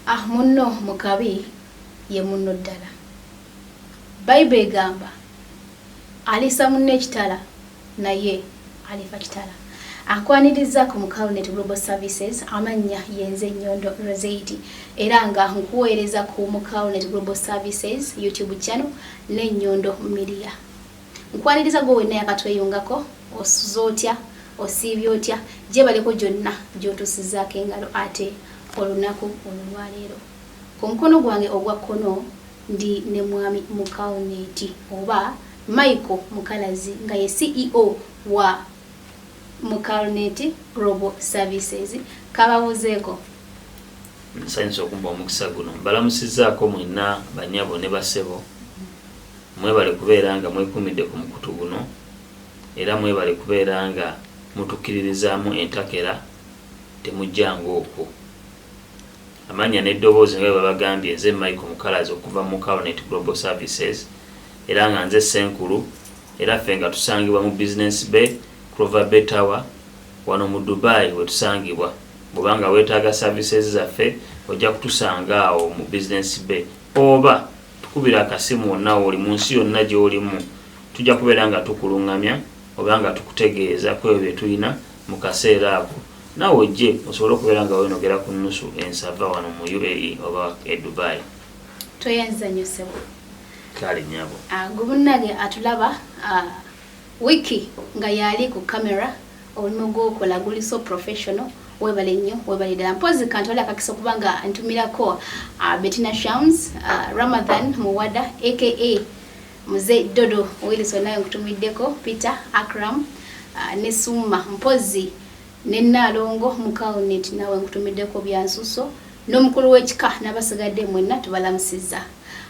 Ah munno mu kabi ye munno ddala. Bible egamba aliisa munno ekitala naye alifa kitala. Ankwaniriza ku Mukalnet Global Services amannya yenze Nyondo Rosaidi era nga nkuweereza ku Mukalnet Global Services YouTube channel ne Nyondo Media. Nkwaniriza gwe wenna yakatweyungako osuze otya osiibye otya gyebaleko gyonna gyotusizaako engalo ate olunaku olulwaleero ku mukono gwange ogwa kkono ndi ne mwami mukalneti oba michael mukalazi nga ye ceo wa mukalneti global services kababuzeeko nsanyusa okumba omukisa guno mbalamusizaako mwenna banyabo ne basebo Mwebale kubeera nga mwekumidde ku mukutu guno era mwebale kubeera nga mutukiririzaamu entakera temujjanga okwo. Amannya n'eddoboozi nga bwebabagambye nze Michael Mukalazi okuva mu Mukalnet Global Services era nga nze Ssenkulu era ffe nga tusangibwa mu Business Bay, Clover Bay Tower wano mu Dubai wetusangibwa. Bwoba nga wetaaga services zaffe ojja kutusanga awo mu Business Bay oba Tukubire akasimu wonna wooli mu nsi yonna gy'olimu. Tujja kubeera nga tukulungamya oba nga tukutegeeza ku ebyo bye tulina mu kaseera ako. Naawe ojje osobole okubeera nga weenogera ku nnusu ensava wano mu UAE oba e Dubai. Tweyanziza nnyo ssebo. Kale nyabo. Uh, ah, gubunage atulaba uh, wiki nga yali ku kamera Omulimu gwokola guli so professional. Webale nnyo, webale ddala. Mpozi kantole akakisa okuba nga ntumirako uh, Bettina Shams, uh, Ramadan Muwada aka Mzee Dodo Wilson naye nkutumiddeko Peter Akram uh, ne Summa Mpozi ne Nalongo Mukawunit nawe nkutumiddeko byansuso n'omukulu w'ekika n'abasigadde mwenna tubalamusiza.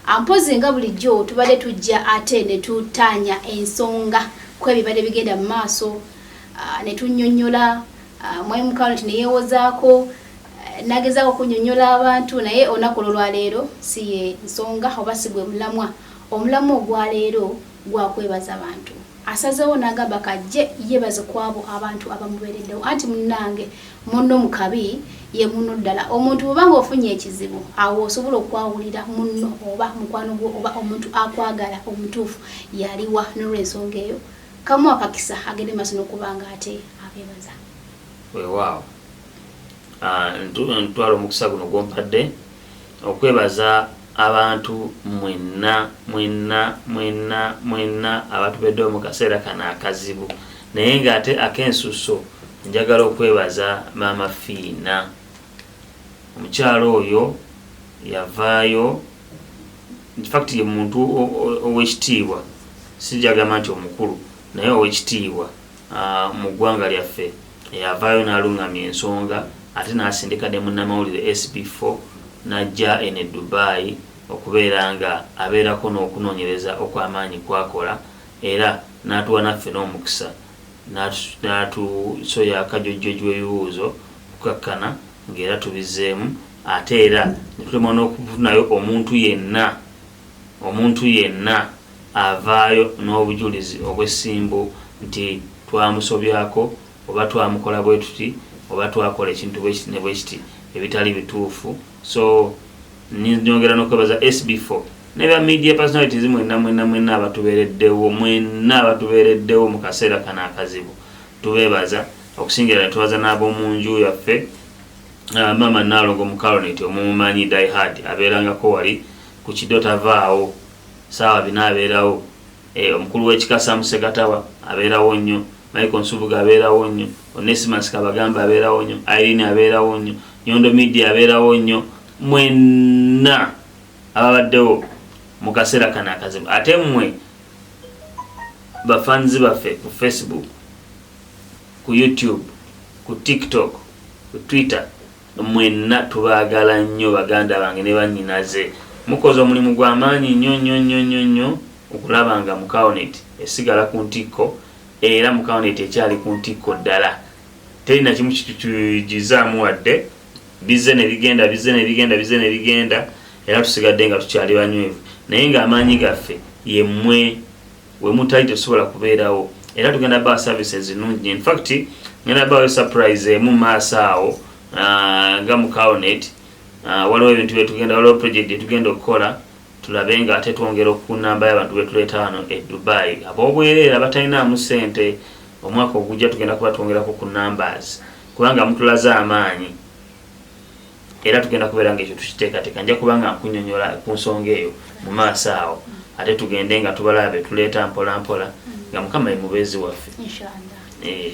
Ampozi nga bulijjo tubadde tujja ate ne tutaanya ensonga ku ebibadde bigenda mu maaso ah, ne tunnyonnyola ah, Mwai Mukanoti ne yeewozaako eh, nagezaako okunnyonnyola abantu naye olunaku olwaleero si ye nsonga oba si gwe mulamwa omulamwa ogwaleero gwa kwebaza bantu. asazewo nagamba kajje yebaze kwabo abantu abamubereddewo anti munange munno mukabi ye munno ddala omuntu bwebanga ofunye ekizibu awo osobola okwawulira munno oba mukwano gwo oba omuntu akwagala omutuufu yaliwa nolwensonga eyo kamu akakisa agende maso nokubanga ate abebaza wewaawo ah, ntwala omukisa guno gwompadde okwebaza abantu mwenna mwenna mwenna mwenna abatubeddewo mu kaseera kano akazibu naye ng'ate ak'ensusso njagala okwebaza maama fiina omukyalo oyo yavaayo infact ye muntu owekitiibwa sijagamba nti omukulu naye owekitiibwa mu ggwanga lyaffe eyavaayo n'alungamya ensonga ate n'asindika ne munnamawulire SB4 n'ajja eno e Dubai okubeera nga abeerako n'okunoonyereza okw'amaanyi kwakola era n'atuwa naffe n'omukisa n'atusoya akajojjoji w'ebibuuzo kukakkana ng'era tubizzeemu ate era ne tulemwa n'okufunayo omuntu yenna Omuntu yenna avaayo n'obujulizi obw'essimbu nti twamusobyako oba twamukola bwe tuti oba twakola ekintu bwe kiti ne bwe kiti ebitali bituufu so nyongera n'okwebaza SB for ne ba media personalities mwenna mwenna mwenna abatubeereddewo mwenna abatubeereddewo mu kaseera kano akazibu tubeebaza okusingira ne tubaza n'ab'omu nju yaffe uh, maama Nnaalongo mu Caronet omumumanyi Die Hard abeerangako wali ku kido tavaawo saawa bina abeerawo e, omukulu w'ekika Sam Segatawa abeerawo nnyo Michael Nsubuga abeerawo nnyo Onesimus Kabagamba abeerawo nnyo Irene abeerawo nnyo Nyondo Media abeerawo nnyo mwenna ababaddewo mu kaseera kano akazibu ate mmwe bafanzi baffe ku Facebook ku YouTube ku TikTok ku Twitter Mwenna tubaagala nnyo baganda bange ne bannyinaze. Mukoze omulimu gwa maanyi nnyo nnyo nnyo nnyo nnyo okulaba nga Mukaonet esigala ku ntikko era Mukaonet ekyali ku ntikko ddala. Teri na kimu kitukyuyigizzaamu wadde. Bizze ne bigenda, bizze ne bigenda, bizze ne bigenda era tusigadde nga tukyali banywevu naye ng'amaanyi gaffe ye mmwe wemutali tesobola kubeerawo era tugenda ba services nungi in fact ngenda bawe surprise emu maaso awo ah, nga mu cownet ah, waliwo ebintu byetugenda waliwo project yetugenda okukola tulabe nga ate twongera okunamba yabantu betuleeta wano e dubai abobwereera batalinaamu sente omwaka ogujja tugenda kuba twongerako ku numbers kubanga mutulaze amaanyi era tugenda kubeera nga ekyo tukiteekateeka nja kuba nga nkunyonyola ku nsonga eyo mu maaso awo ate tugende nga tubalaba betuleeta mpolampola nga mukama ye mubeezi waffe eh.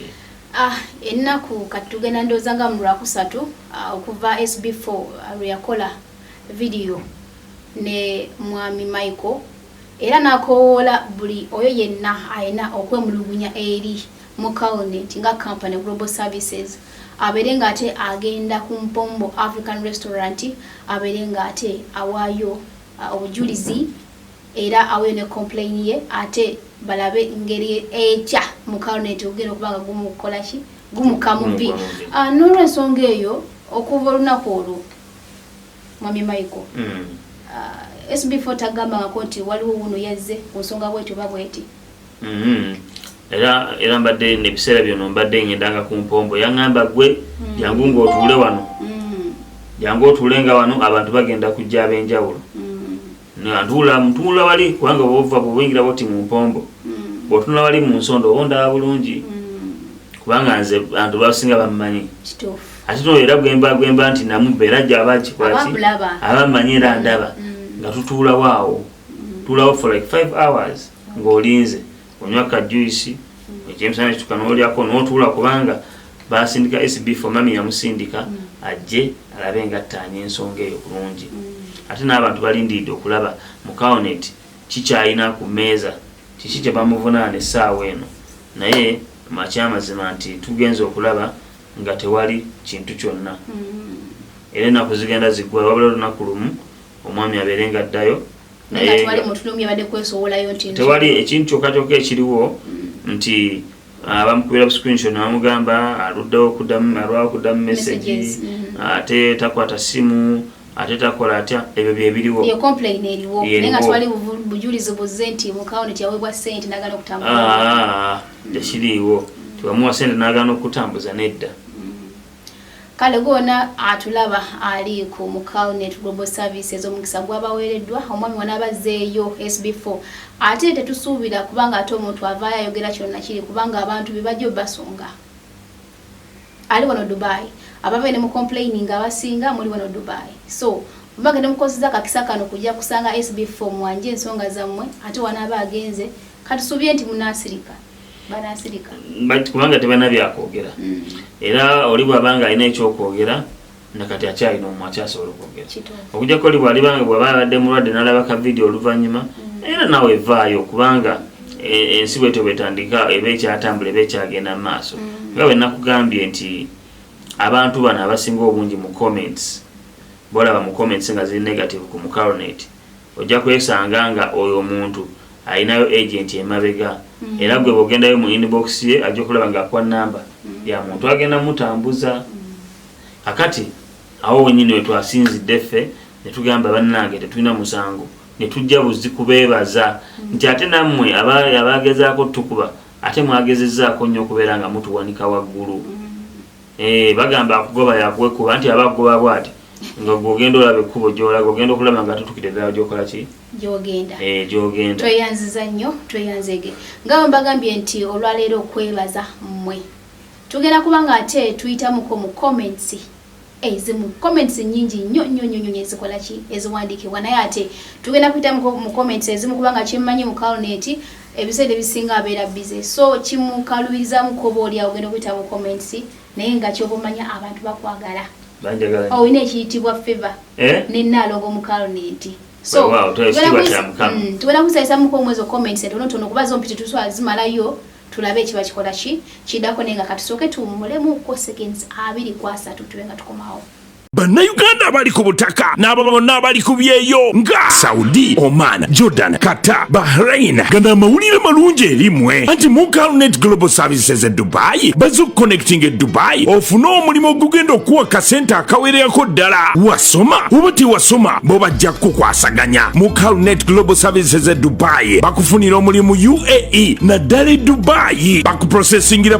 ah, ennaku kati tugenda ndowooza nga mu lwakusatu ah, okuva sb 4 ah, lweyakola vidiyo ne mwami michael era nakowoola buli oyo yenna alina okwemulugunya eri mu Calnet nga company Global Services abeere ng'ate agenda ku Mpombo African Restaurant abeere ng'ate awaayo uh, obujulizi era aweyo ne complain ye ate balabe ngeri ekya mu Calnet ogenda okuba nga gumu kukola ki gumu kamubi uh, n'olwensonga eyo okuva olunaku olwo Mwami Michael mm. uh, SB4 tagambangako nti waliwo wuno yazze ku nsonga bwetyo oba bweti Mm-hmm. era era mbadde nebiseera byono mbadde ngendanga ku mpombo yaŋŋamba gwe mm. jangu ng'otuule wano mm. jangu otuule nga wano abantu bagenda kujja ab'enjawulo mm. ntuula ntuula wali kubanga bova bwobuyingira boti mu mpombo bwotunula wali mu nsonda oba ondaba bulungi kubanga nze bantu basinga bammanyi ate no era gwemba gwemba nti namubba era jaba akikwaki abammanyi era ndaba nga tutuulawo awo tuulawo for like five hours ng'olinze onywa ka juice ekyemisana kituka n'olyako n'otuula kubanga basindika SB for mami yamusindika ajje alabe nga attaanya ensonga eyo bulungi ate n'abantu balindiridde okulaba mu kaonet kikyalina ku mmeeza kiki kye bamuvunaana essaawa eno naye makyamazima nti tugenza okulaba nga tewali kintu kyonna mm. era enaku zigenda ziggwala wabula olunaku lumu omwami abeere nga addayo tewali ekintu kyokka kyokka ekiriwo mm. nti abamukubira ah, buscreenshot nebamugamba aluddewo alwawo okudamu message mm. ate takwata simu ate takola atya ebyo byebiriwo tekiriiwo tiwamuwa sente nagana okutambuza nedda Kale gwona atulaba ali ku mu Calnet Global Services omukisa gwabaweereddwa omwami wano abazzeeyo SB4 ate tetusuubira kubanga ate omuntu avaayo ayogera kino nakiri kubanga abantu be bajja obasunga ali wano Dubai abave ne mu complaining abasinga muli wano Dubai so mbage ne mukozeza kakisa kano kujja kusanga SB4 mwanje ensonga zammwe ate wanaaba agenze katusuubire nti munaasirika kubanga tebana byakwogera mm. era oli bwaba nga alina ekyokwogera nakati akyalina omu akyasobola okwogera okujako oli bwalibanga bwaba abadde mulwadde nalaba ka vidiyo oluvanyuma mm. era nawe evaayo kubanga e, ensi bwetyo bwetandika eba ekyatambula eba ekyagenda mu maaso mm. nga wenakugambye nti abantu bano abasinga obungi mu comments bolaba mu comments nga ziri negative ku mucarnate Ojja kwesanga nga oyo omuntu alinayo agent emabega mm. era gwe bogendayo mu inbox ye ajja okulaba nga akuwa namba mm. ya muntu agenda mutambuza mm. akati awo wenyini wetwasinzidde ffe netugamba bannange tetulina musango netujja buzi kubeebaza mm. nti ate nammwe abagezaako tukuba ate mwagezezaako nnyo okubeera nga mutuwanika waggulu mm. Eh, bagamba akugoba yakuwekuba nti aba akugoba bwati nga gwogenda olaba ekkubo gyolaga ogenda okulaba nga tutukire ddala gyokola ki gyogenda eh, gyogenda tweyanziza nnyo tweyanzege nga bwe mbagambye nti olwaleero okwebaza mmwe tugenda kuba nga ate tuyitamuko mu comments ezimu eh, comments nyingi nnyo nnyo nnyo nnyo ezikola ki eziwandiikibwa naye ate tugenda kuyitamuko mu comments ezimu kubanga kyemmanyi mu kaloneti ebiseera ebisinga abeera bize so kimukalubirizaamu koba oli awo genda okuyita mu comments naye nga kyoba omanya abantu bakwagala olina ekiyitibwa feva eh? nenaalongo mukaalo nenti tugenda kusayisa muko omwezi ocomments entonotono kuba zompiti tuswala zimalayo tulabe ekiba kikola ki kidako naye nga katusooke tuwumulemu ko seconds abiri kwasatu tube nga tukomawo bannayuganda abali ku butaka n'abo bonna abali ku byeyo nga saudi oman jordan qatar bahrain gana amawulire malungi erimwe anti mukalnet global services e dubayi baza okuconnecting e dubayi ofune omulimu ogugenda okuwa kasente akawererako ddala wasoma oba tewasoma bo bajja kukukwasaganya mukalnet global services e dubayi bakufunira omulimu uae naddala e dubayi bakuprosesingira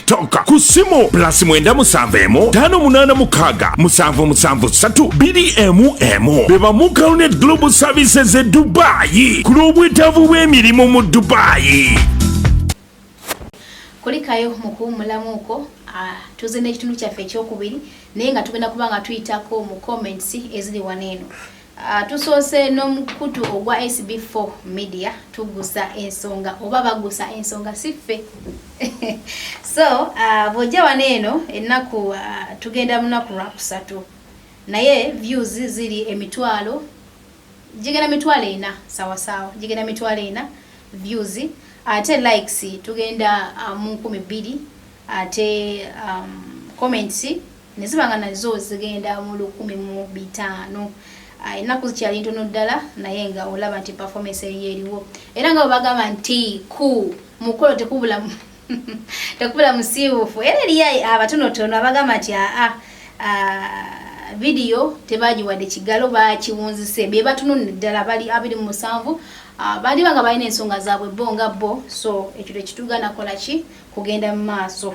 tonka ku ssimu pulasi mwenda musanvu emu ttaano munaana mukaaga musanvu musanvu ssatu bbiri emu emu be bamu caronet global services e dubaayi ku lw'obwetaavu bw'emirimu mu dubaayi kulikayo mu kuwummulamu okwo ah, tuze n'ekitundu kyaffe ekyokubiri naye nga tugenda kuba nga tuyitako mu comments eziri wano eno Uh, tusoose n'omukutu ogwa SB4 media tugusa ensonga oba bagusa ensonga siffe so uh, bwojja wano eno ennaku uh, tugenda munaku lwakusatu naye views ziri emitwalo gigenda mitwalo ena sawasaawa gigenda mitwalo ena views ate likes tugenda uh, mu nkumi bbiri ate um, comments ne ziba nga nazo zigenda mu lukumi mu bitaano ah, ennaku zikyali ntono ddala naye nga olaba nti performance eriyo eriwo era nga bwebagamba nti ku mukolo tekubula tekubula musiiwufu era eriyo abatonotono abagamba nti aa ah, ah, vidiyo tebagiwadde kigalo bakiwunzise be batunonne ddala bali abiri mu musanvu baliba nga balina ensonga zaabwe bo nga bo so ekyo tekituga nakola ki kugenda mu maaso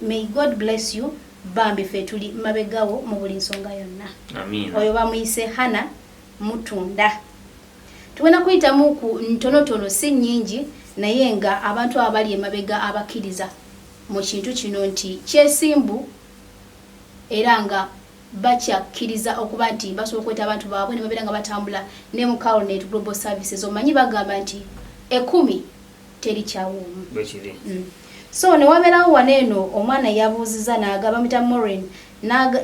May God bless you bambi fe tuli mabegawo mu buli nsonga yonna oyo bamuyise hana mutunda tugenda kuyitamu ku ntonotono si nyingi naye nga abantu abali emabega abakkiriza mu kintu kino nti kyesimbu era nga bakyakkiriza okuba nti basobola okweta abantu baabwe ne babeera nga batambula ne mu carnet global services omanyi bagamba nti ekumi teri kyawuumu bwekiri mm. so newabeerawo wano eno omwana yabuuziza naga bamita morin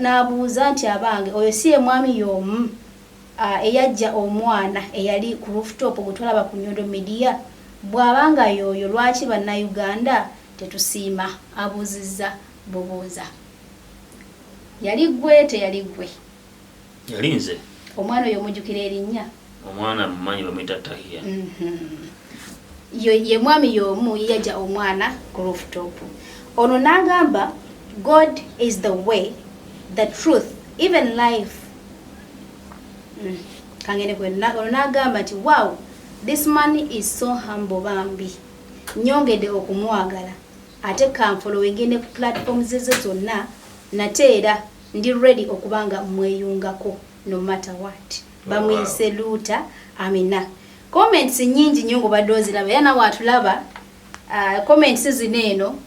nabuuza nti abange oyo si ye mwami yomu uh, eyajja omwana eyali ku rooftop gwetulaba ku nyondo media bwabanga yoyo lwaki bannayuganda tetusiima abuuzizza bubuuza yali gwe teyali gwe Yali nze. Omwana oyo omujukira erinnya? Omwana mumanyi bamuyita Tahiya. Mm-hmm. Ye mwami y'omu yeyaja omwana ku rooftop. Ono n'agamba God is the way, the truth, even life. Mm. Kangene kwe ono n'agamba nti wow this man is so humble bambi nyongede okumwagala ate kanfolowinge ne platforms ze zonna nate era Ndi ready okuba nga mweyungako no matter what. Bamuyise luuta amina. Comments nyingi nnyo ng'obadde oziraba era nawe atulaba uh, comments zino eno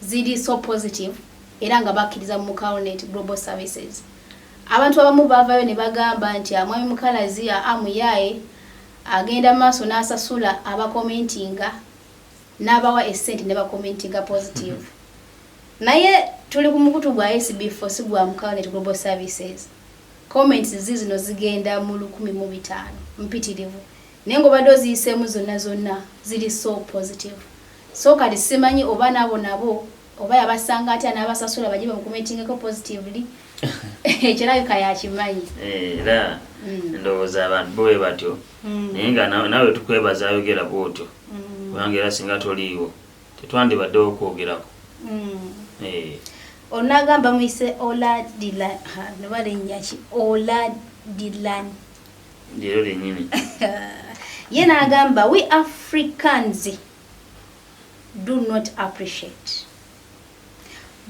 ziri so positive era nga bakkiriza mu Mukawunet Global Services. Abantu abamu baavayo ne bagamba nti amwami ah, mukalazi amuyaaye ah, agenda maaso n'asasula abakomentinga n'abawa essente ne bakomentinga positive. Naye tuli ku mukutu gwa SB4 si gwa Mukawanet Global Services. Comments ziizino zigenda mu lukumi mu bitaano mpitirivu naye ng'obadde oziyiseemu zonna zonna ziri so positive. So kati simanyi oba naabo nabo oba yabasanga atya n'abasasula baje bamukomentingeko positively ekirabika yakimanyi eh, era mm. ndowooza abantu bo bwe batyo mm. naye nga nawe tukwebaza ayogera bwotyo mm. kubanga era singa toliiwo tetwandibaddewo kwogerako eh. onagamba muyise oladilan noba lenyaki oladilan lyero lenyini ye nagamba we africans do not appreciate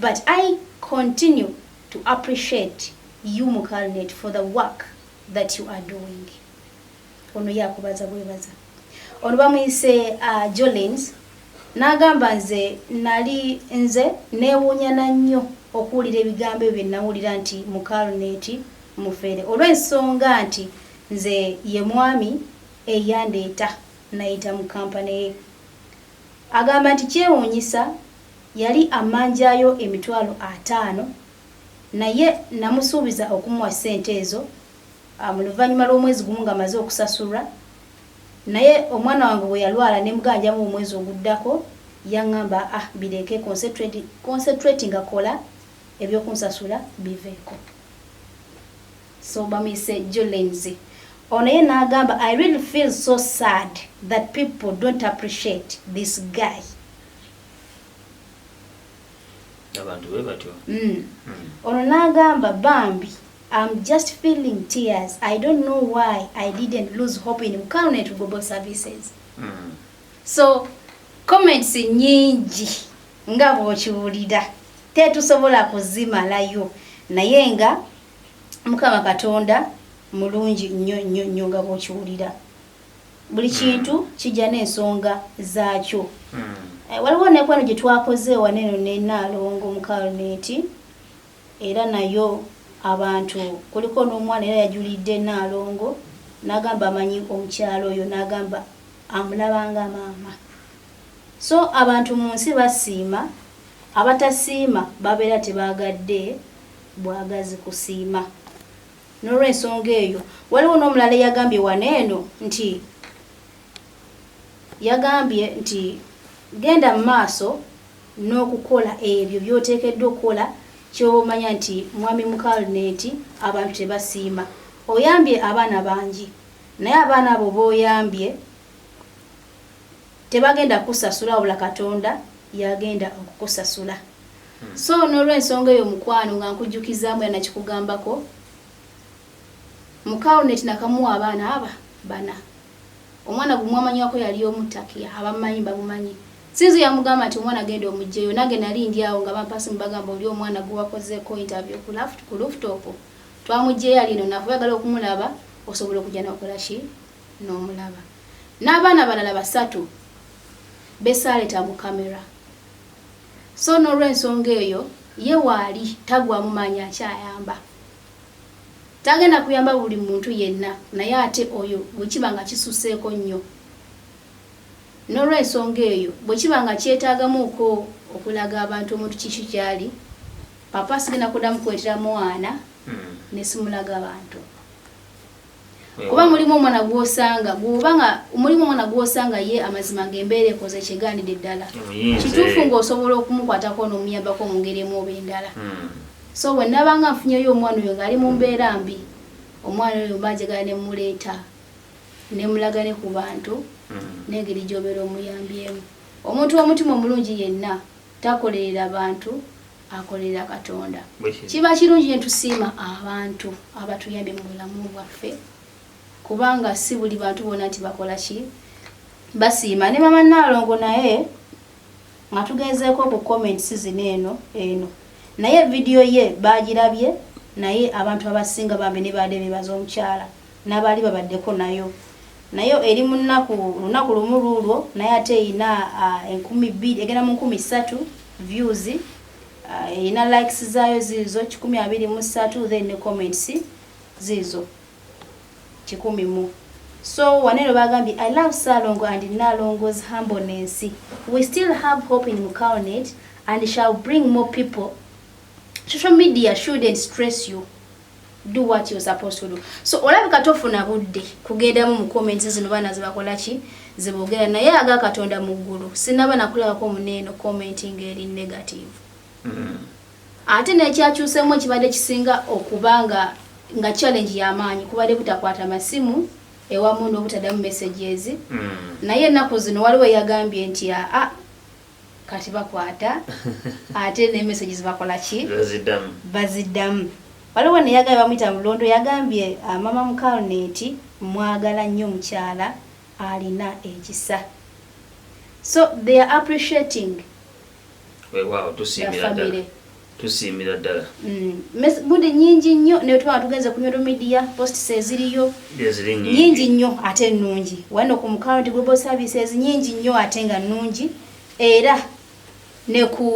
but i continue to appreciate you mukalnet for the work that you are doing Ono yakubaza bwebaza. Ono bamuyise uh, Jolins n'agamba nze nali nze neewuunya na nnyo okuwulira ebigambo ebyo nnawulira nti mu kaluneti mufere olw'ensonga nti nze ye mwami eyandeeta nayita mu kampani ye agamba nti kyewuunyisa yali amanjayo emitwalo ataano naye namusuubiza okumuwa ssente ezo Um, luvannyuma lw'omwezi gumu nga maze okusasulwa naye omwana wange bwe yalwala ne muganjamu omwezi oguddako yaŋŋamba ah bireeke concentrate nga kola ebyokunsasula biveeko so bamuyise jolenzi ono ye n'agamba i really feel so sad that people don't appreciate this guy abantu bwe batyo mm. mm. ono n'agamba bambi Am just feeling tears I don't know why I didn't lose hope in Mkano Net Global Services mm. so comments nyingi nga bwokiwulira tetusobola kuzimalayo naye nga mukama katonda mulungi nnyo nnyo nnyo nga bwokiwulira buli hmm. kintu kijja n'ensonga zaakyo hmm. eh, waliwo nekwano gye twakoze ewaneeno nenaalongo mukaloneti era nayo abantu kuliko n'omwana era yajulidde Nnaalongo n'agamba amanyi omukyala oyo n'agamba amulaba nga maama so abantu mu nsi basiima abatasiima babeera tebaagadde bwagazi kusiima n'olwensonga eyo waliwo n'omulala eyagambye wano eno nti yagambye nti genda mu maaso n'okukola ebyo by'oteekeddwa okukola ky'oba omanya nti Mwami Mukal Neti abantu tebasiima. Oyambye abaana bangi naye abaana abo b'oyambye tebagenda kukusasula wabula Katonda y'agenda okukusasula. Hmm. So n'olwensonga eyo mukwano nga nkujjukizaamu era nakikugambako Mukal Neti nakamuwa abaana aba bana. omwana gwe mwamanywako yali omu takia abamumanyi bamumanyi sinzo yamugamba nti omwana genda omugyeyo nange nali ndi awo nga bampa simu bagamba oli omwana gwe wakozeeko interview ku laft ku luftop twamugyeyo ali eno nafu yagala okumulaba osobola okujja nokola ki nomulaba n'abaana balala basatu besaaleta mu kamera so n'olwensonga eyo ye waali tagwamu maanyi akyayamba Tagenda kuyamba buli muntu yenna naye ate oyo bwe kiba nga kisusseeko nnyo. N'olw'ensonga eyo, bwe kiba nga kyetaagamuuko okulaga abantu omuntu kiki ky'ali, Papa sigenda kuddamu kuleetera mwana ne simulaga bantu. kuba mulimu omwana gwosanga gwoba nga mulimu omwana gwosanga ye amazima ng'embeera ekoze kyegaanidde ddala kituufu ng'osobola okumukwatako n'omuyambako mu ngeri emu oba endala hmm. so bwe nabanga nfunyeyo omwana oyo ng'ali mu mbeera mbi omwana oyo mba njagala ne mmuleeta ne mulaga ne ku bantu hmm. n'engeri gy'obeera omuyambyemu omuntu w'omutima omulungi yenna takolerera bantu akolerera katonda kiba kirungi netusiima abantu abatuyambye mu bulamu bwaffe kubanga si buli bantu bona nti bakola ki basiima ne mama naalongo naye nga tugenzeeko ku comments zino eno eno naye vidiyo ye bagirabye naye abantu abasinga bambi ne baade bebaza omukyala n'abaali babaddeko nayo nayo eri mu nnaku lunaku lumu luulwo naye ate erina enkumi bbiri egenda mu nkumi ssatu views erina likes zaayo ziizo kikumi abiri mu ssatu then ne comments ziizo kikumi mu So wanero bagambi I love Salongo and Nalongo's humbleness. We still have hope in Mukaonet and shall bring more people. Social media shouldn't stress you. do what you supposed to do so olabika tofuna budde kugendamu mu comments zino baana zibakola ki zibogera naye aga katonda mu ggulu sinaba nakulabako muneeno commenting eri negative mm. ate nekyakyusemu ekibadde kisinga okuba nga nga challenge yamaanyi kubadde butakwata masimu ewamu nobutadamu messages mm. naye ennaku zino waliwo yagambye nti aa ah, ah, Kati bakwata ate ne messages bakola ki? Bazidamu. Bazidamu. Waliwo ne yagaye bamuyita mulondo yagambye uh, mama mukalne nti mwagala nnyo mukyala alina ekisa. So they are appreciating. Wewawo tusiimira ddala. tusiimira ddala mm. budde nyingi nnyo naye twaba tugenze ku nyoro media posts eziriyo nyingi nnyo ate nnungi wano ku mukaunti global services nyingi nnyo ate nga nnungi era ne ku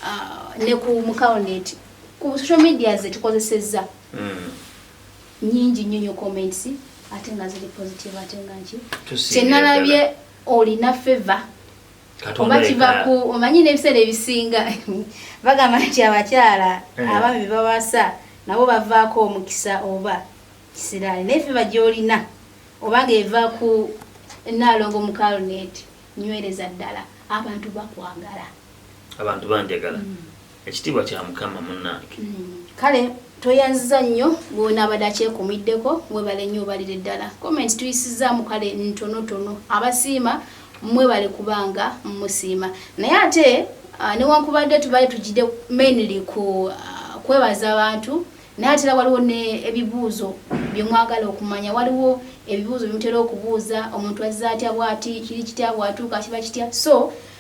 uh, ne ku mukauneti ku social media ze tukozesezza mm. nyingi nnyo nyo comments ate nga ziri positive ate nga nki kyenalabye olina favor oba kiva ku omanyi n'ebiseera ebisinga bagamba nti abakyala eh. abaami bebawasa nabo bavaako omukisa oba kisiraani naye fe bagyolina oba ng'eva ku naalongo mukalnet nywereza ddala abantu bakwagala abantu banjagala mm. ekitiibwa kya mukama munange kale tweyanziza nnyo gwona abadde akyekumiddeko mwebale nnyo obalire ddala comment tuyisizaamu kale ntonotono abasiima mwebale kubanga musiima naye ate ah, newankubadde tubale tugide mainly ku ah, kwebaza abantu naye atera waliwo nebibuuzo byemwagala okumanya waliwo ebibuuzo byemutera okubuuza omuntu azza atya bwati kiri kitya bwatuuka kiba kitya so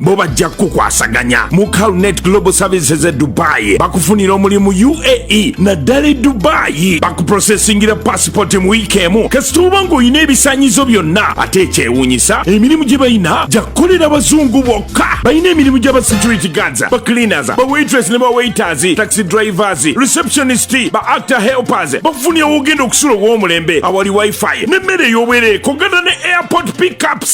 bo bajja kukukwasaganya mu calnet global services e dubai bakufunira omulimu uae naddala e dubai bakuprosesingira pasipoti mu wiiki emu kasita oba ng'olina ebisanyizo byonna ate ekyewuunyisa emirimu gye balina gyakukolera bazungu bokka balina emirimu gyaba security guards ba cleaners ba waitress ne ba waiters taxi drivers receptionist ba actor helpers bakufunira wogenda okusula ow'omulembe awali wifi n'emmere ey'obwereeko gana ne airport pickups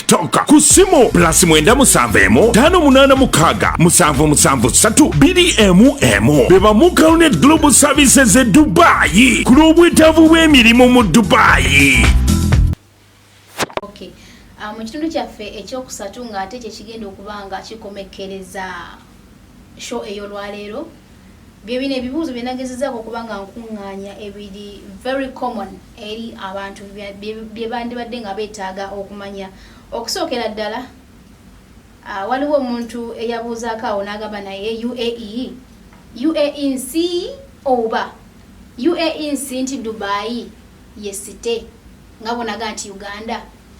tonka ku ssimu pulasi mwenda musanvu emu ttaano munaana mukaaga musanvu musanvu ssatu bbiri emu emu be bamu caronet global services e dubaayi ku lw'obwetaavu bw'emirimu mu dubaayi ah, mu kitundu kyaffe ekyokusatu ng'ate kye kigenda okuba nga kikomekkereza Show ey'olwaleero bye bino ebibuuzo bye nagezezaako okuba nga nkuŋŋaanya ebiri very common eri abantu bye bandibadde nga beetaaga okumanya okusookera ddala Ah, waliwo omuntu eyabuuzaako awo n'agamba naye uae uae nsi oba uae nsi nti dubayi ye site nga bonaga nti uganda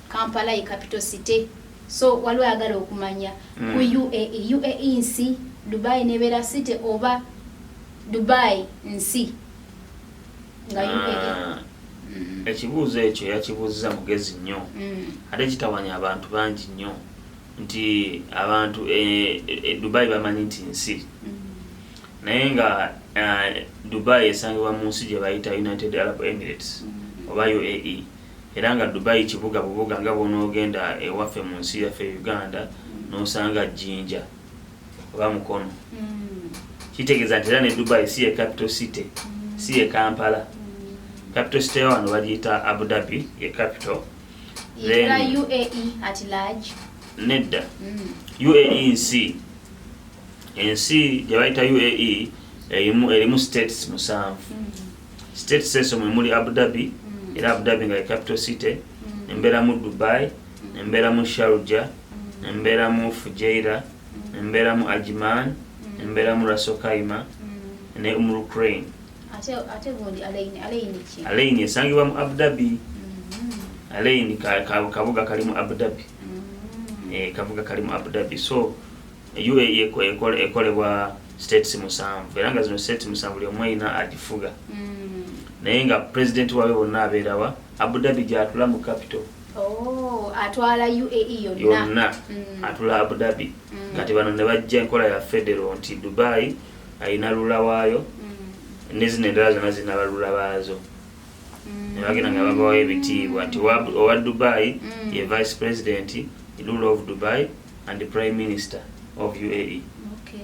kampala ye capital city so waliwo ayagala okumanya mm. ku uae uae nsi dubai nebeera city oba dubai nsi nga uae ah. Mm-hmm. ekibuuzo ekyo yakibuuziza mugezi nnyo mm. ate kitawanya abantu bangi nnyo nti abantu e, e, dubai bamanyi nti nsi mm. naye nga eh, dubai esangibwa mu nsi gye bayita united arab emirates mm. oba uae era nga Dubai kibuga bubuga nga bw'onoogenda ewaffe mu nsi yaffe Uganda n'osanga Jinja oba Mukono kitegeeza nti era ne Dubai si ye capital city si ye Kampala capital city ya wano bagiyita Abu Dhabi ye capital then UAE at large nedda mm. UAE nsi ensi gye bayita UAE erimu erimu states musanvu mm. State Seso mwe muli Abu Dhabi mm. era Abu Dhabi nga capital city mm. embeera mu Dubai mm. embeera mu Sharjah mm. embeera mu Fujairah mm. embeera mu Ajman mm. embeera mu Ras Al Khaimah mm. ne Umm Ukraine ate ate bondi Alain Alain ki Alain esangibwa mu Abu Dhabi mm -hmm. Alain ka, ka, kabuga kali mu Abu Dhabi mm -hmm. eh kabuga kali mu Abu Dhabi so UAE ekolebwa states musanvu era nga zino states musanvu buli omu erina agifuga hmm. naye nga president waabwe bonna abeerawa Abu Dhabi gyatula mu capital oh, atwala UAE yonna hmm. atula Abu Dhabi hmm. kati bano ne bajja enkola ya federal nti Dubai alina lula waayo ne zino endala zonna zirina balula baazo ne bagenda nga babawayo ebitiibwa nti owa Dubai ye vice president rule of Dubai and prime minister of UAE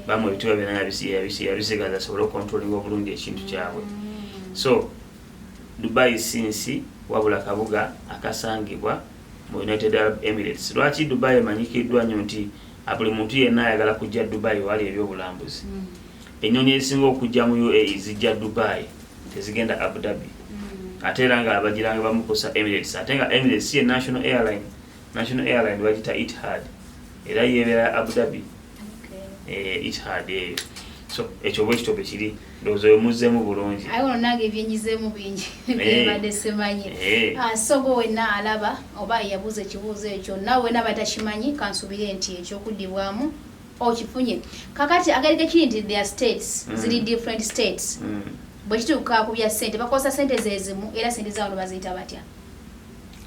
bamu ebitiibwa byonna yabisigaza asobole okontrolinga obulungi ekintu kyabwe mm. so dubai si nsi wabula kabuga akasangibwa mu united arab emirates lwaki dubai emanyikiddwa nnyo nti buli muntu yenna ayagala kujja dubai wali ebyobulambuzi mm. ennyonyi ezisinga okujja mu uae zijja dubai tezigenda abu dhabi mm. ate era nga abagiranga bamukusa emirates ate nga emirates ye national airline mm. National Airline bagita Etihad era yeebera Abu Dhabi eh, Etihad eyo so ekyo bwe kityo bwe kiri ndowooza oyo muzzeemu bulungi aye ono nange ebyenyizeemu bingi eh. byebadde simanyi eh. ah, sogo wenna alaba oba yabuuza ekibuuzo ekyo nawe wena batakimanyi kansubire nti ekyokuddibwamu okifunye kakati agalika kiri nti their states mm. ziri different states mm. bwe kituuka ku bya ssente bakozesa ssente zezimu era ssente zawono baziyita batya mm.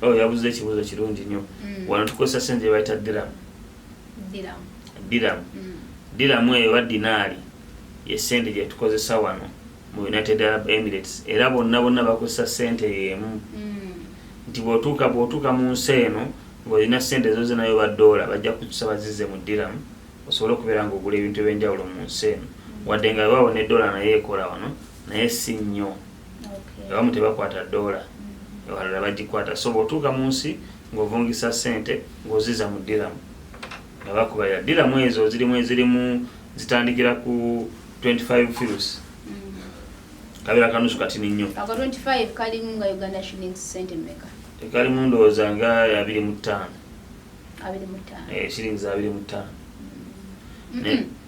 oyo oh, yabuza ekibuuzo kirungi nnyo mm. wano tukozesa sente gyebayita diramu diramu mm. diramu eyo oba dinaali yesente gyetukozesa wano mu united arab emirates era bonna bonna bakozesa sente yemu mm. nti bwotuuka bwotuuka mu nsi eno ngaolina sente ezo zenayo badoola bajja kutusaba zize mu diramu osobole okubeera nga ogula ebintu ebyenjawulo mu nsi eno wadde nga webawo ne dola naye ekola wano naye si nnyo abamu tebakwata doola abalala bagikwata so bwotuuka mu nsi ng'ovungisa sente ng'oziza mu diramu nga bakubalira diramu ezo zirimu ezirimu zitandikira ku 25 fius mm. kabera kanusu katini nnyo tekalimu ndowooza nga abiri mu ttaano eh, shillings abiri mu ttaano mm.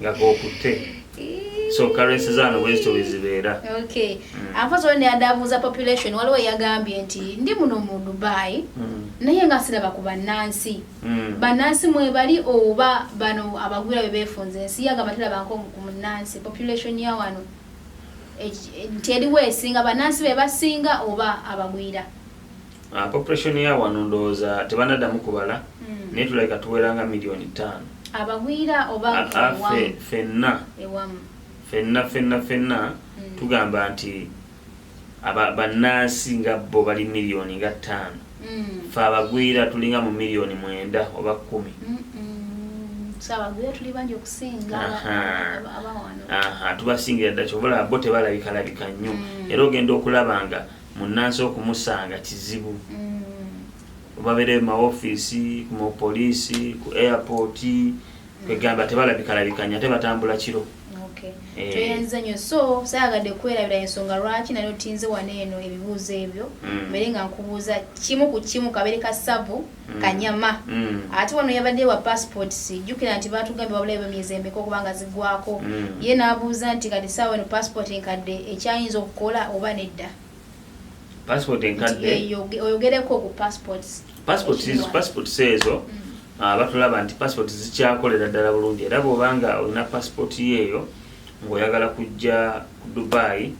nga kokutte so currency zaano bwezityo bwezibeera mm. ampozi oli neyadabuuza population waliwo yagambye nti ndi muno mu dubai mm. naye nga siraba ku bannansi mm. bannansi mwebali oba bano abagwira be befunza ensi yagamba tirabankoku munnansi population ya wano nti eriwo esinga bannansi be basinga oba abagwira Ah, population ya wano ndowooza tebanaddamu kubala hmm. naye tulabika tuwera nga miliyoni ttaano abagwira oba ah, ah, fenna fenna fenna fenna hmm. tugamba nti bannansi nga bo bali miliyoni nga ttaano hmm. fe abagwira tulinga mu miliyoni mwenda oba kkumi tubasingira dda kyobola bo tebalabikalabika nnyo era ogenda okulaba nga munnansi okumusanga kizibu babeereyo mu mawofiisi mu poliisi ku airport kwegamba tebalabikalabikanya ate batambula kiro Eh. toyenze nyo so sayagadde kwerabira ensonga lwaki nali otinze wano eno ebibuuzo ebyo mm. mbere nga nkubuuza kimu ku kimu kabere ka savu Mm. kanyama mm. ate wano yabadde wa passport sijjukira nti batugambye wabulayo bemyezi emeka okuba nga zigwako mm. ye n'abuuza nti kati saawa eno passport enkadde ekyayinza okukola oba nedda passport enkadde oyogereko ku passport passport passport seezo ah, batulaba nti passport zikyakolera ddala bulungi era bw'oba nga olina passport yeeyo ng'oyagala kujja ku dubai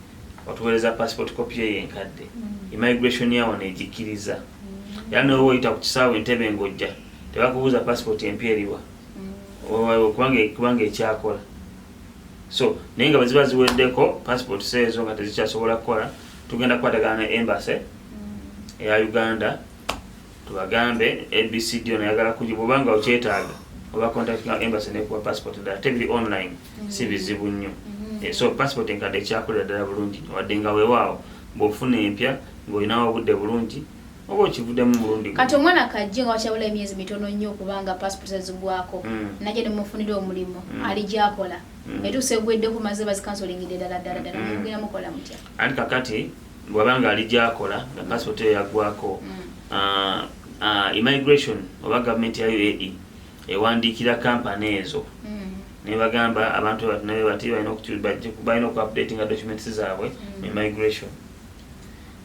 otuweereza passport copy ye enkadde mm. immigration yawo negikkiriza mm. era noba oyita ku kisaawe entebe ngojja tebakubuuza passport empya eriwa mm. kubanga ekyakola so naye nga bweziba ziweddeko passport seezo nga tezikyasobola kukola tugenda kukwatagana ne embassy eya uganda tubagambe abcd onayagala kuji bwobanga okyetaaga oba contact embassy nekuwa passport dala tebiri online si bizibu nnyo mm-hmm. eh, so passport enkadde ekyakolera ddala bulungi wadde nga wewaawo bwofuna empya ng'olinawo obudde bulungi oba okivuddemu mulundi kati omwana kajje nga wakyabula emyezi mitono nnyo okubanga passport zazigwako mm. naye nemufunira omulimu mm. ali gyakola mm. etuusa egweddeko maze bazikansolingidde ddala ddala ddala mugenda mukola mutya anti kakati bwabanga ali gyakola nga passport eyo yaggwako ah, ah, immigration oba gavumenti ya uae ewandiikira kampani ezo mm. nebagamba abantu batnabe bati balina okuupdatinga documents zaabwe mm. emigration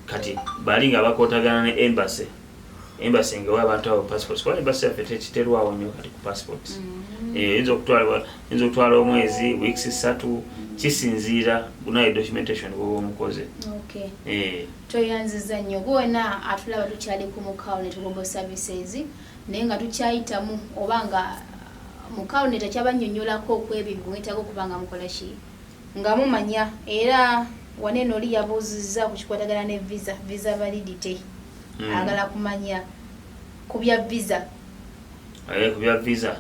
kati bali nga bakotagana ne embassy embassy ngawa abantu abo passports kuba embassy yaffe tekiterwawo nnyo kati ku passports mm. eh, yinza okutwala omwezi weeks satu kisinziira bunaye documentation bwoba omukoze eh. tweyanziza nnyo gwona atulaba tukyali ku mukawo ne tugogo services naye nga tukyayitamu oba nga mukawune takyabannyonnyolako ku ebyo bimwetaaga okuba nga mukola ki nga mumanya era waneeno oli yabuuzizza ku kikwatagana ne visa visa validity hmm. agala kumanya ku bya visa eh, ku bya visa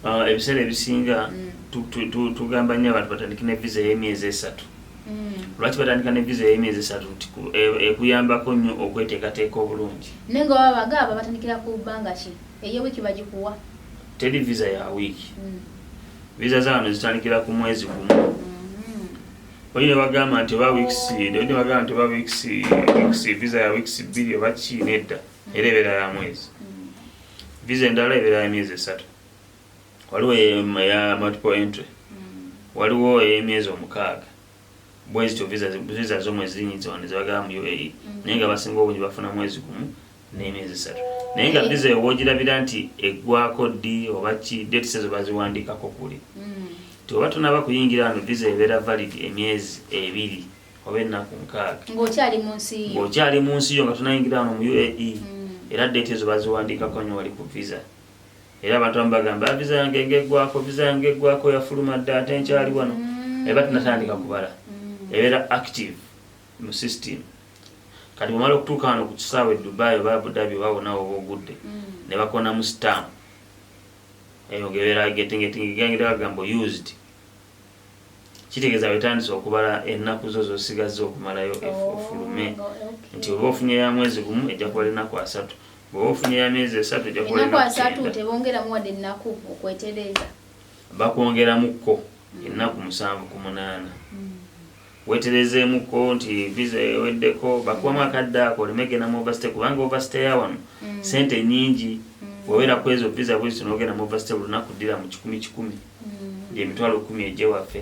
ah, ebiseera ebisinga hmm. tugamba nnyo abantu batandike ne visa ey'emyezi esatu Mm. lwaki batandika ne visa eyemyezi esatu nti e, ekuyambako nnyo okweteekateeka obulungi naye nga baba bagaaba batandikira ku bbanga ki eyo wiiki bagikuwa teri visa ya wiiki mm. visa zaano zitandikira ku mwezi gumu mm-hmm. oyi nebagamba nti oba weeks oyi nebagamba nti oba weeks weeks visa ya weeks bbiri oba ki nedda mm. era ebeera ya mwezi mm. visa endala ebeera ya myezi esatu waliwo eya multiple entry mm. waliwo eyemyezi omukaaga bwezityo visa zo mwezi zinyinza wano zebagala mu uae mm. naye nga basinga obungi bafuna mwezi gumu n'emyezi esatu naye nga visa eyo wogirabira nti eggwako ddi oba ki dates ezo baziwandiikako kuli mm. ti oba tunaba kuyingira wano visa ebeera valid emyezi ebiri oba ennaku nkaaga ng'okyali mu nsi yo nga tunayingira wano mu uae era date ezo baziwandiikako nyo wali ku visa era abantu abamu bagamba ah, visa yange ngegwako visa yange egwako yafuluma dda ate nkyali wano mm. eba tinatandika kubala mm. ebeera active mu system kati bwemala okutuuka wano ku kisaawa e dubai oba abudabi oba wonawo oba ogudde mm. ne bakonamu stamp eyo ngebeera getingetingegangira bagamba used Kitegeeza wetandise okubala ennaku zo zosigazza okumalayo ofulume nti oba ofunye ya mwezi gumu ejja kubala ennaku asatu bwoba ofunye ya myezi esatu ejja kubala ennaku asatu tebongeramu wadde ennaku okwetereeza bakwongeramuko ennaku musanvu ku munaana weterezeemuko nti visa eweddeko bakubamu akadde ako oleme genda mu overstay kubanga overstay yawano mm. sente nyingi mm. wewera ku ezo visa bwezito nogenda mu overstay olunaku ddira mu kikumi kikumi mm. emitwalo kumi egye waffe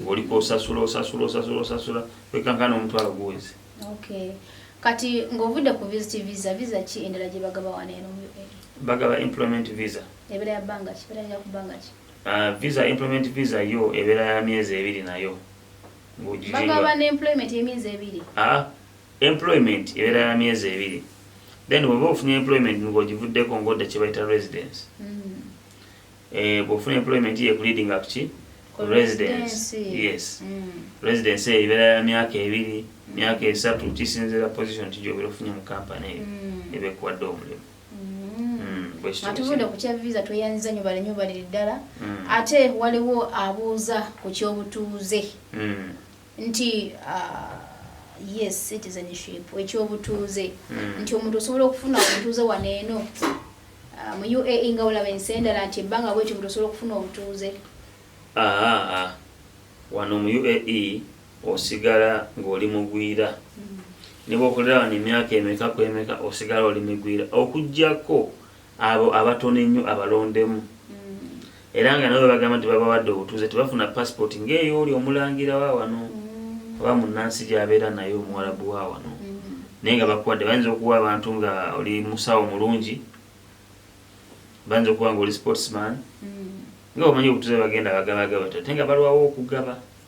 ng'oliko osasula osasula osasula osasula wekankana omutwalo guwezi kati ng'ovudde ku visit visa visa ki endala gye bagaba wano eno mu ua bagaba employment visa ebeera ya bbanga ki ebeera ya kubbanga ki ah, visa employment visa yo ebeera ya myezi ebiri nayo bagaba ne employment emyezi ebiri ah employment ebeera ya myezi ebiri then bwoba ofunye employment ng'ogivuddeko ng'odda kye bayita residence mm. eh, bwofuna employment ye kuleading up ki residence yes mm. residence eyo ebeera ya myaka ebiri mm. myaka esatu kisinzira position ti gyobeera ofunye mu kampani eyo mm. eba ekuwadde omulimu atuvudde ku kya visa tweyanziza nyo bale nyo baliri ddala mm. ate waliwo abuuza ku kyobutuuze mm. nti uh, yes citizenship ekyobutuuze mm. nti omuntu osobola okufuna obutuuze wano eno uh, mu uae nga olaba ensi endala nti ebbanga bwekyo omuntu osobola okufuna obutuuze ah, ah, ah. wano mu uae osigala ng'oli mugwira ne bwokolera wano emyaka emeka ku emeka osigala oli migwira okugyako abo abatono ennyo abalondemu mm. era nga nabo bagamba nti babawadde obutuuze tebafuna passport ngaeyo oli omulangira wa wano mm. oba munansi gyabeera naye omuwalabu wa wano mm. naye nga bakuwadde bayinza okuwa abantu nga oli musawo mulungi bayinza okuba nga oli sportsman nga omanyi obutuuze bagenda bagabagaba ate nga balwawo okugaba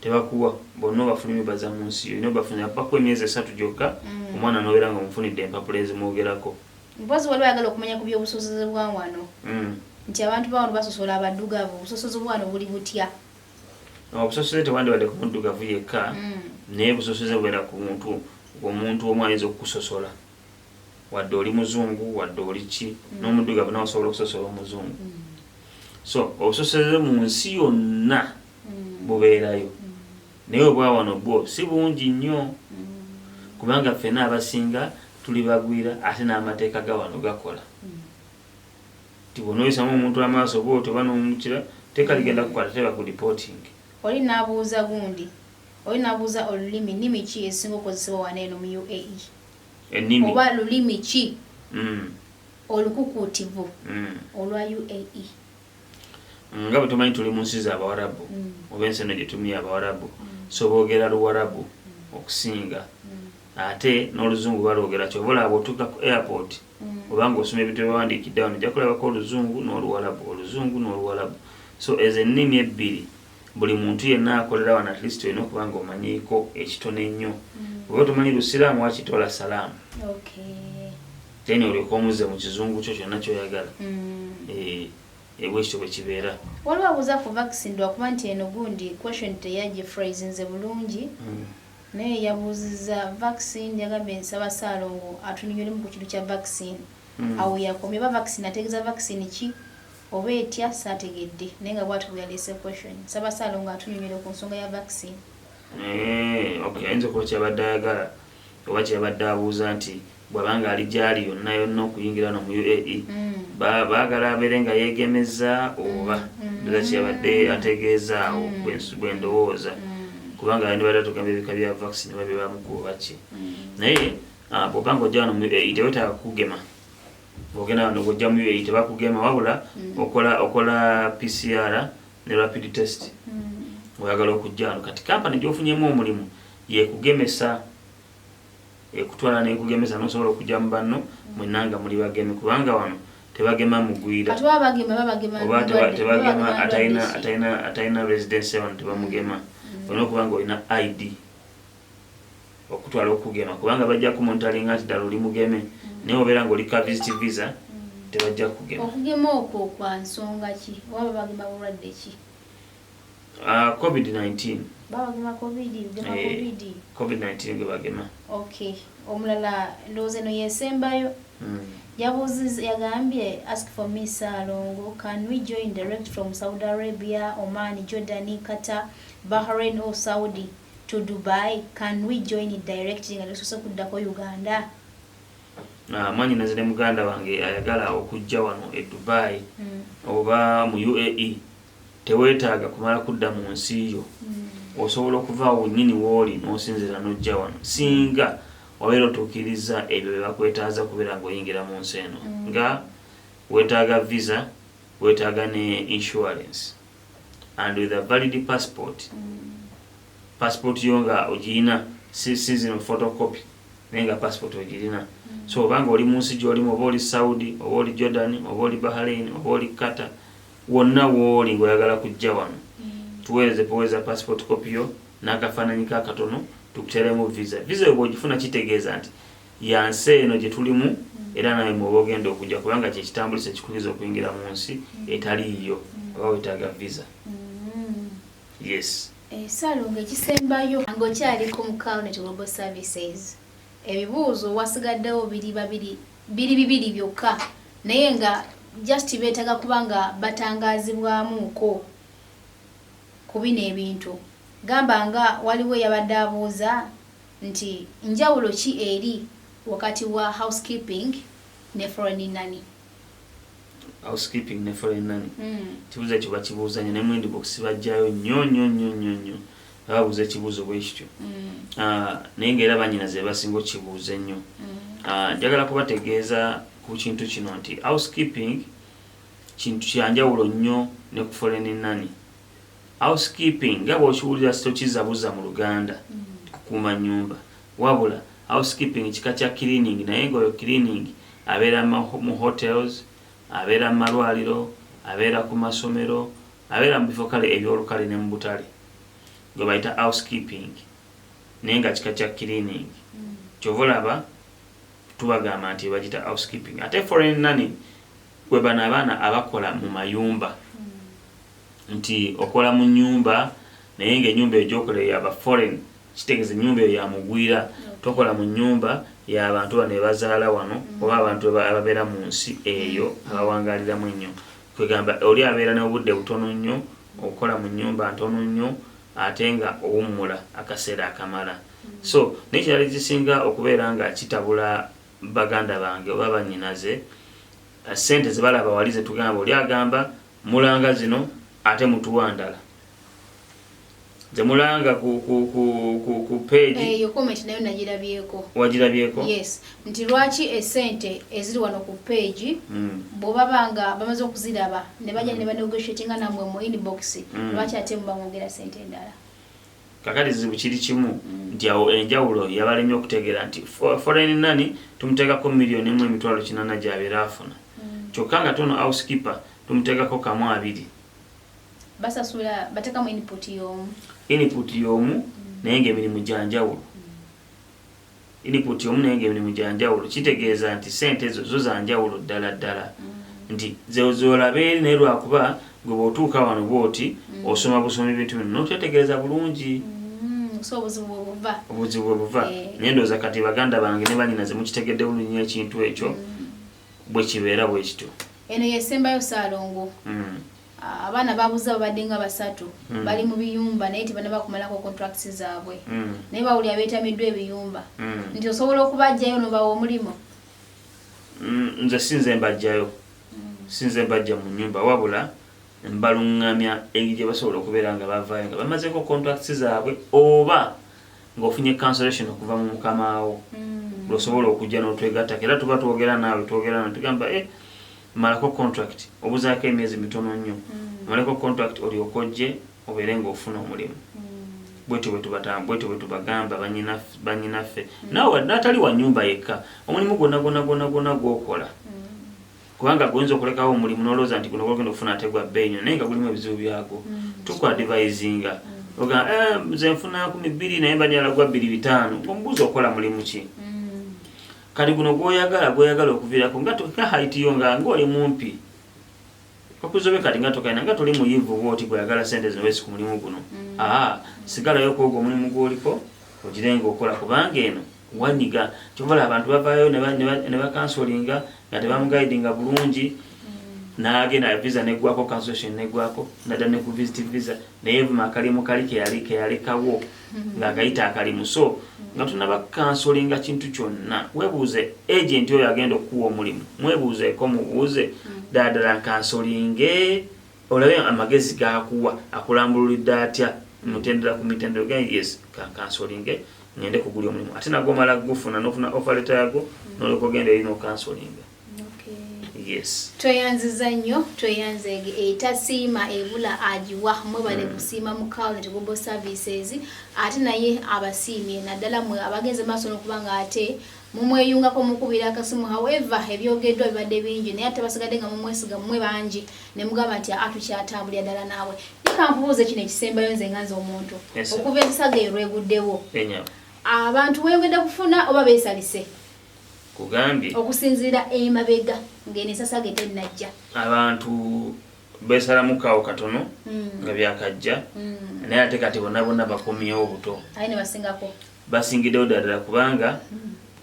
tebakuwa bonna obafuluma ebaza mu nsi yo olina obafulumya bakuwa emyezi esatu gyokka mm. omwana nobeera nga omufunidde empapula ezimwogerako mpozi waliwo ayagala okumanya ku byobusosoze bwa wano mm. nti abantu bawano basosola abaddugavu obusosoze bwano buli butya obusosoze tewandibadde ku muddugavu yekka mm. naye busosoze bubeera ku muntu omuntu omu ayinza okukusosola wadde oli muzungu wadde oli ki n'omuddugavu nawe osobola okusosola omuzungu so obusosoze mu nsi yonna bubeerayo naye obwawano bwo si bungi nnyo kubanga ffena abasinga tuli bagwira ate n'amateeka ga wano gakola ti bwonoyisamu omuntu amaaso oba otyo oba nomukira teeka ligenda kukwata teba ku reporting oli nabuuza gundi oli nabuuza olulimi nimi ki esinga okozesebwa wana eno mu uae enimi oba lulimi ki mm. olukukutivu mm. olwa uae nga bwetumanyi tuli mu nsi zabawarabu mm. oba ensi eno gyetumiyo abawarabu mm. so boogera luwarabu mm. okusinga ate n'oluzungu baloogera kyova olaba bwotuuka ku airport obanga osoma ebintu byebawandiikidde wano ojja kulabako oluzungu n'oluwarabu oluzungu n'oluwarabu so ezo ennimi ebbiri buli muntu yenna akolera wano at least olina okuba nga omanyiiko ekitono ennyo oba tomanyi lusiraamu wakitoola salaamu then olyoka omuze mu kizungu kyo kyonna kyoyagala mm. eh, ebwekityo eh, bwekibeera waliwo abuuza ku vaccine lwakuba nti eno gundi question teyagifraisinze bulungi mm. naye yabuuziza vaccine yagambye nsaba saalongo atunyunyulemu ku kintu kya vaccine mm. awo yakomye oba vaccine ategeeza vaccine ki oba etya saategedde naye nga bwati bweyaleese question nsaba saalongo atunyunyule ku nsonga ya vaccine eh, ayinza okuba kyabadde ayagala oba kye yabadde abuuza nti bw'aba ng'ali gy'ali yonna yonna okuyingira wano mu UAE baagala abeere nga yeegemezza oba ndoza kye yabadde ategeeza awo bwe ndowooza kubanga yandibadde atugamba ebika bya vaccine oba bye bamukuba oba ki naye ah, bw'oba ng'ojja wano mu UAE tewetaaga kukugema ogenda wano ng'ojja mu UAE tebakugema wabula mm. okola okola PCR ne rapid test mm. oyagala okujja wano kati kampani gy'ofunyemu omulimu yekugemesa ekutwala nekugemesa nosobola okujja mu banno mwenna nga muli bageme kubanga wano tebagema mugwira tebagema atalina residency wano tebamugema mm. olina okuba nga olina id okutwala okugema kubanga bajja kumontalinga nti ddala oli mugeme mm. naye obeera nga oli ka visit visa mm. tebajja kugema okugema okwo kwa nsonga ki oba babagema bulwadde ki Ah, covid 19 babagema covid gema eh, covid covid 19 gwe bagema okay omulala ndowooza eno yesembayo hmm. yabuuziza yagambye ask for me salongo can we join direct from saudi arabia oman jordan qatar bahrain or saudi to dubai can we join it direct nga tusose kuddako uganda ah, mwanyi nazire muganda wange ayagala okujja wano e dubai hmm. oba mu uae Teweetaaga kumala kudda mu nsi yo. Osobola okuva awo wennyini w'oli n'osinziira n'ojja wano singa wabeera otuukirizza ebyo bye bakwetaaza okubeera ng'oyingira mu nsi eno nga weetaaga visa, weetaaga ne insurance and with a valid passport. Passport yo nga ogirina si si zino photocopy naye nga passport ogirina. So oba ng'oli mu nsi gy'olimu oba oli Saudi oba oli Jordan oba oli Bahrain oba oli Qatar, Wonna wooli ng'oyagala kujja wano, tuweereze kowee za passport copy yo n'akafaananyi ko akatono tukuteeremu visa. Visa eyo bw'ogifuna kitegeeza nti ya nsi eno gye tulimu era nawe mw'oba ogenda okujja kubanga kye kitambulisa ekikubiriza okuyingira mu nsi etali yiyo oba wetaaga visa. Yes. Eh, Salongo ekisembayo ng'okyali ku Mukawuneti Global Services, ebibuuzo wasigaddewo biri babiri biri bibiri byokka naye nga just beetaga kuba nga batangaazibwamuuko ku bino ebintu gamba nga waliwo eyabadde abuuza nti njawulo ki eri wakati wa housekeeping ne foreign nani housekeeping ne foreign nani mm. kibuuza kyo bakibuuzanyo ne mwendi box bajjayo nnyo nnyo nnyo nnyo nnyo babuuza ekibuuzo bwe kityo mm. ah, naye nga era banyina ze basinga okukibuuza ennyo mm. ah, njagala kubategeeza ku kintu kino nti housekeeping kintu kyanjawulo nnyo ne ku foleni nani housekeeping nga bwokiwulira sitokizabuza mu luganda mm. kukuuma nyumba wabula housekeeping kika kya cleaning naye nga oyo cleaning abeera mu hotels abeera mu malwaliro abeera ku masomero Abeera mu bifo kale eby'olukale ne mu butale gwe bayita housekeeping naye nga kika kya cleaning. Kyova olaba tubagamba nti bagita housekeeping. Ate foreign nanny kwe bano abaana abakola mu mayumba. Nti okola mu nnyumba naye nga ennyumba eyo gy'okolera ya ba foreign. Kitegeeza ennyumba eyo ya mugwira. Tokola mu nnyumba ya bantu bano be bazaala wano oba abantu ababeera mu nsi eyo abawangaaliramu ennyo. kwegamba oli abeera nobudde butono nnyo okukola mu nyumba ntono nnyo ate nga owummula akaseera akamala so nekirala ekisinga okubeera nga kitabula baganda bange oba banyinaze eh, sente zebalaba wali zetugamba oli agamba mulanga zino ate mutuwa ndala Jamulanga ku ku ku ku ku page. Eh, yo comment nayo najirabyeko. Wajirabyeko? Yes. Nti lwaki esente eziri wano ku page mm. bo babanga bamaze okuziraba ne baje mm. ne banegotiate nga namwe mu inbox mm. lwaki ate mu bangogera sente endala. Kakati zibu kiri kimu mm. nti awo enjawulo yabalemye okutegera nti foreign nani tumuteka ko million emu emitwalo kinana gyabera afuna. Mm. Kyokka nga tono housekeeper tumuteka ko kamu abiri. basasula batekamu input yomu input yomu mm. naye nga emirimu gyanjawulo mm. input yomu naye nga emirimu gyanjawulo kitegeeza nti sente ezo zo zanjawulo ddala ddala mm. nti zolabe eri naye lwakuba gwe bwotuuka wano bwoti mm. osoma busoma ebintu bino nokyetegeeza bulungi mm, obuzibu bwebuva eh. naye ndooza kati baganda bange ne banyina zemukitegedde bulunyi ekintu ekyo mm. bwe kibeera bwe kityo eno yesembayo saalongo mm. abaana babuze babadde nga basatu mm. bali mu biyumba naye tebanabakumalako contracts zaabwe mm. naye bawuli abeetamiddwa ebiyumba mm. nti osobola okubajjayo nobawa omulimu mm, nze sinze mbajjayo mm. sinze mbajja mu nyumba wabula mbaluŋŋamya engeri gye basobola okubeera nga bavaayo nga bamazeko contracts zaabwe oba ng'ofunye cancellation okuva mu mukamaawo mm. lwosobola okujja n'otwegattako era tuba twogera naawe twogera na tugamba e eh, malako contract obuzaako emyezi mitono nnyo mm. malako contract olyoka ojje obeere ng'ofuna omulimu mm. bwetyo bwetyo bwetubagamba banyinaffe naawe n'atali wa nyumba yekka omulimu gwonna gwonna gwonna gwonna gwokola kubanga goyinza okulekawo omulimu nolowooza nti guno gwogenda okufuna ate gwa bbeeyi nyo naye nga gulimu ebizibu byago mm. tukwadivayizinga mm. oga eh, nze nfuna kumi bbiri naye mbanyala gwa bbiri bitaano omubuuzi okola mulimu ki mm. kati guno gwoyagala gwoyagala okuvirako nga tokahaitiyo nga ngaoli mumpi okuzobe kati nga tokaina nga toli muyivu bwoti gweyagala sente zino wesi ku mulimu guno aa sigalayo kwogo omulimu gwoliko ogirenga okola kubanga eno wanyiga kyova olaba abantu bavayo nebakansolinga nga tebamugaidinga bulungi nagenda visa negwako cancellation negwako nada ne ku visit visa naye vuma akalimu kali keyali keyalekawo mm-hmm. nga agayita akalimu so mm-hmm. nga tunaba kansolinga kintu kyonna webuuze agent oyo agenda okukuwa omulimu mwebuuzeeko mubuuze mm-hmm. dadala kansolinge Olabye amagezi gakuwa akulambululidde atya mutendera ku mitendero gen yes kankansolinge ngende kuguli omulimu ate nago omala gufuna nofuna ofereta yago noloka ogenda eri nokansolinga yes tweyanziza nnyo tweyanza etasiima ebula agiwa mwebale hmm. kusiima mu county global services ate naye abasiimye naddala mwe abagenze maaso nokuba nga ate mumweyungako mukubira akasimu however ebyogeddwa bibadde bingi naye ate basigadde nga mumwesiga mumwe bangi nemugamba nti aa tukyatambulira ddala naawe nikankubuuza kino ekisembayo nze nga nze omuntu okuva ensaga eyo lweguddewo abantu weyongedde kufuna oba besalise kugambye okusinziira emabega ngeno esasaga etennajja abantu besalamukawo katono hmm. nga byakajja hmm. naye ate kati bonabona bakomyewo obuto aye nebasingako Basingiddewo ddala kubanga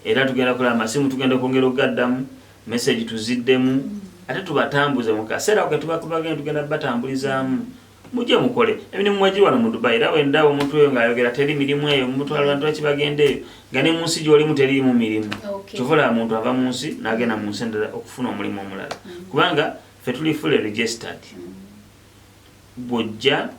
era tugenda kola amasimu tugenda okwongera okugaddamu message tuziddemu ate tubatambuze mu kaseera ako ketuba kubagenda tugenda batambulizaamu mujje mukole emirimu mwegiri wano mu dubai era wendaba omuntu oyo ng'ayogera teri mirimu eyo mumutwala bantu baki bagenda eyo nga ne mu nsi gy'olimu teriimu mirimu kyova olaba muntu ava mu nsi n'agenda mu nsi endala okufuna omulimu omulala mm. kubanga fe tuli fully registered mm. bw'ojja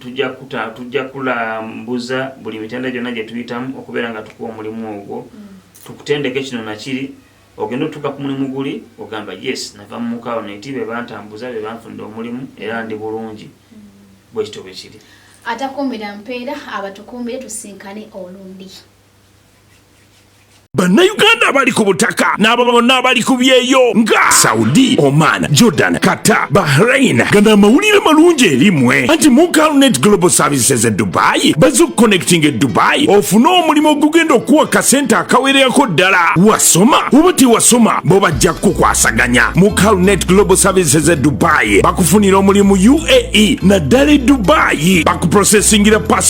Tujja kuta, tujja kulambuza buli mitenda gyonna gye tuyitamu okubeera nga tukuwa omulimu ogwo, mm. tukutendeke kino na kiri, ogenda otuuka ku mulimu guli, ogamba yes, nava mu mukaawo neti be bantambuza, be banfunira omulimu, era ndi bulungi. Mm. Bwe kityo bwe kiri. Atakuumira mpeera abatukuumire tusinkane olundi. bannayuganda abali ku butaka n'abo bonna abali ku byeyo nga saudi oman jordan qatar bahrain gana amawulire malungi erimwe anti mucalnet global services e dubayi baze okuconnecting e dubayi ofune omulimu ogugenda okuwa kasente akawererako ddala wasoma oba tewasoma bo bajja kukukwasaganya mucalnet global services e dubayi bakufunira omulimu uae naddala e dubayi bakuprosesingira pasi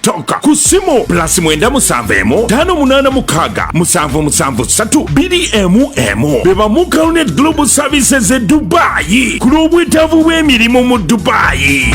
tonka ku ssimu pulasi mwenda musanvu emu ttaano munaana mukaaga musanvu musanvu ssatu bbiri emu emu be bamu caronet global services e dubaayi ku lw'obwetaavu bw'emirimu mu dubaayi